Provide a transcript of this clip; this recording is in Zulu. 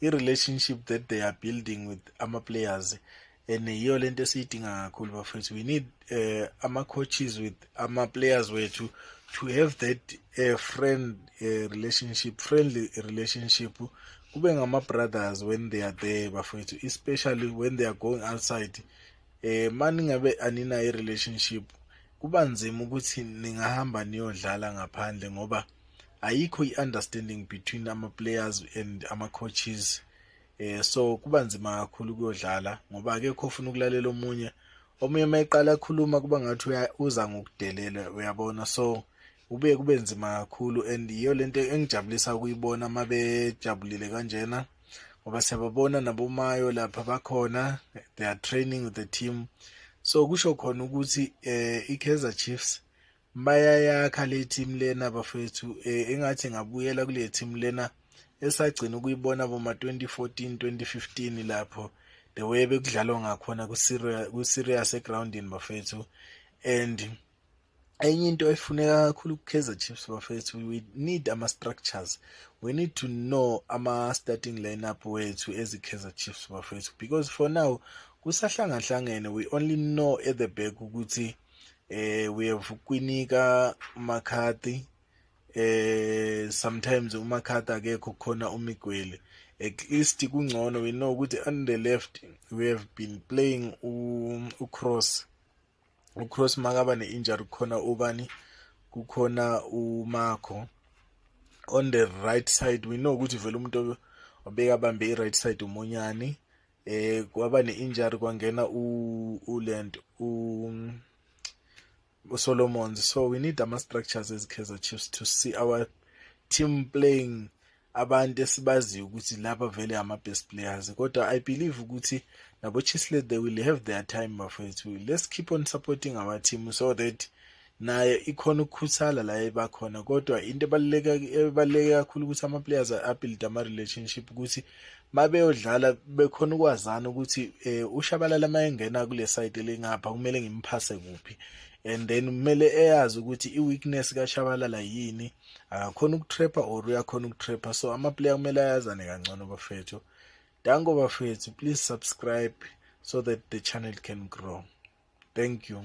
i-relationship that they are building with ama-players and yiyo le nto esiyidinga kakhulu bafethu we need uh, ama-coaches with ama-players wethu to have that uh, friend uh, relationship friendly relationship kube ngama-brothers when they are there bafethu especially when they are going outside um uh, maningabe aninayo i-relationship kuba nzima ukuthi ningahamba niyodlala ngaphandle ngoba ayikho i-understanding between ama-players and ama-coaches eh so kuba nzima kakhulu kuyodlala ngoba akekho ofuna ukulalela omunye omunye uma eqala akhuluma kuba ngathi uza ngokudelela uyabona so kube kube nzima kakhulu and yiyo lento engijabulisa ukuyibona uma bejabulile kanjena ngoba siyababona nabomayo lapha bakhona they are training with the team so kusho khona ukuthi eh iKaizer Chiefs bayayakha le team lena bafethu eh, engathi ngabuyela kule team lena esagcina ukuyibona boma 2014 2015 lapho the way bekudlalwa ngakhona ku serious egroundini bafethu and enye into efuneka kakhulu ku-kaizer chiefs bafethu we need ama-structures we need to know ama-starting lineup wethu ezi-kaizer chiefs bafethu because for now kusahlangahlangene we only know at the back ukuthi eh we have kwinika umakhathi eh sometimes umakhathi akekho khona umigwele at least kungcono we know ukuthi on the left we have been playing u-cross um, ucross makaba ne-injury kukhona ubani kukhona umakho on the right side we know ukuthi vele umuntu obekabambe i-right side umunyani eh kwaba ne-injury kwangena ulent usolomons so we need ama-structures as kaizer chiefs to see our team playing abantu esibaziyo ukuthi laba vele ama-best players kodwa i believe ukuthi nabo-chislet they will have their time bafethu let's keep on supporting our team so that naye ikhona ukukhuthala la ebakhona kodwa into ebaluleke kakhulu ukuthi ama-players abuild ama-relationship ukuthi ma beyodlala bekhona ukwazana ukuthi um ushabalala uma engena kule side elingapha kumele ngimphase kuphi and then kumele eyazi ukuthi i-weakness kashabalala yini akakhona ukutrapper or uyakhona ukutrapper so amaplayer kumele ayazane kangcono bafethu danko bafethu please subscribe so that the channel can grow thank you